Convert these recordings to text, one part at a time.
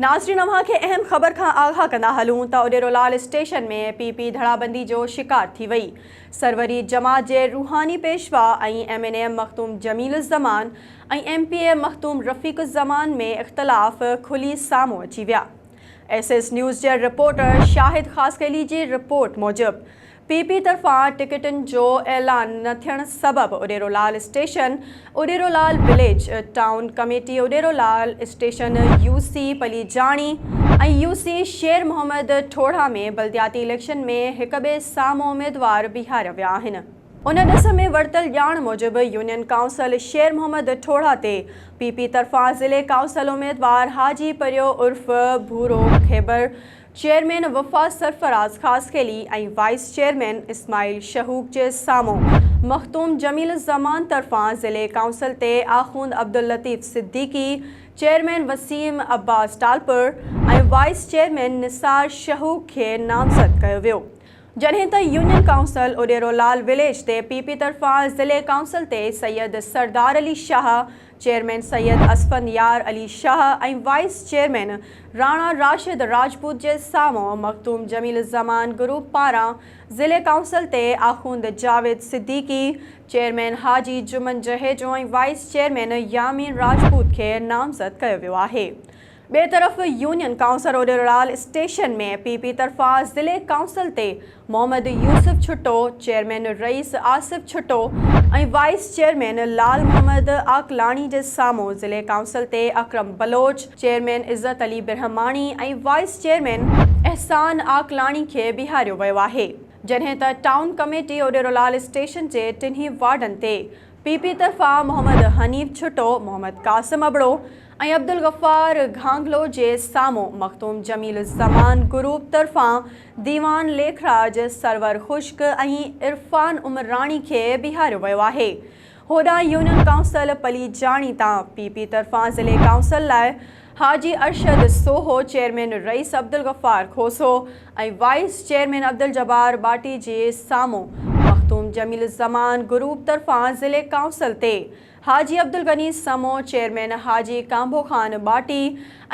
ناظرين اوهان کي اهم خبر کان آگاهه ڪندا هلون ته Udero Lal station ۾ P P ڌڙابندي جو شڪار ٿي وئي سروري جماعت جي روحاني پيشوا ۽ M N M Makhdoom Jamil Uzzaman ۽ M P A Makhdoom Rafiq Uzzaman ۾ اختلاف کلي سامهون اچي ويا ايس ايس نيوز جي رپورٽر شاهد خاصخيلي جي رپورٽ موجب پي پي طرفان ٽڪيٽن جو اعلان نه ٿيڻ سبب Uderolal station, Uderolal village, town committee Uderolal station, U C Palijani ۽ U C Sher Muhammad Thorha ۾ بلدياتي اليڪشن ۾ هڪٻئي سامهون اميدوار بيهاريا ويا آهن. ان ڏس ۾ ورتل ڄاڻ موجب يونين ڪائونسل شير محمد ٺوڙها تي پي پي طرفان ضلعي ڪائونسل اميدوار حاجي پريو عرف Bhoro Khaibar, chairman Wafa Sarfraz Khaskheli ۽ vice chairman Ismail Shahok جي سامهون مخدوم جميل الزمان طرفان ضلعي ڪائونسل تي Akhund Abdullatif Siddiqui, chairman Waseem Abbas Talpur ۽ vice chairman Nisar Shahok کي نامزد ڪيو ويو. جڏهن ته union council Udero Lal village تي پي پي طرفان ضلعي ڪائونسل تي Syed Sardar Ali Shah, chairman Syed Asfandyar Ali Shah ۽ vice chairman Rana Rashid Rajput جي سامهون مخدوم جميل الزمان گروپ پاران ضلعي ڪائونسل تي Akhund Javed Siddiqui, chairman Haji Juman Jhejo ۽ vice chairman Yamin Rajput کي نامزد ڪيو ويو آهي. ٻئي طرف union council اوريورال station ۾ P P طرفان ضلعي ڪائونسل تي محمد يوسف ڇٽو، چيئرمين رئيس آصف ڇٽو ۽ وائيس چيئرمين لال محمد عاقلاڻي جي سامهون ضلعي ڪائونسل تي Akram Baloch, chairman Izzat Ali Birhamani ۽ vice chairman Ehsan Aqlani کي بيهاريو ويو آهي جڏهن ته ٽائون ڪميٽي اوريورال اسٽيشن جي ٽنهي وارڊن تي پي پي طرفان محمد حنيف ڇٽو، محمد قاسم ابڙو، ۽ عبدالغفار گهانگلو جي سامهون مخدوم جميل الزمان گروپ طرفان ديوان ليکراج سرور خشڪ ۽ عرفان عمراڻي کي بيهاريو ويو آهي هوڏانهن يونين ڪائونسل پليجاڻي تان پي پي طرفان ضلعي ڪائونسل لاء Haji Arshad Soho chairman Rais Abdul Ghaffar Khoso ۽ vice chairman Abdul Jabbar Bhatti جي سامهون مخدوم جميل الزمان گروپ طرفان ضلعي ڪائونسل تي Haji Abdulghani Samo, chairman Haji Kanbho Khan Bhatti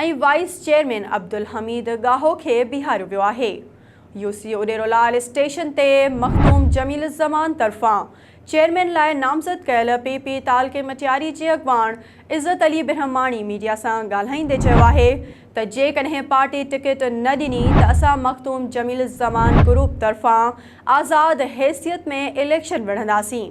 ۽ vice chairman Abdulhameed Gaho کي بيهاريو ويو آهي. يو سي اڏيرولال اسٽيشن تي مخدوم جميل الزمان طرفان چيئرمين لاء نامزد ڪيل پي پي تعلقي مٽياري جي اڳواڻ عزت علي برهماڻي ميڊيا سان ڳالهائيندي چيو آهي ته جيڪڏهن پارٽي ٽڪيٽ نه ڏني ته اسان مخدوم جميل الزمان گروپ طرفان آزاد حيثيت ۾ اليڪشن وڙهنداسين.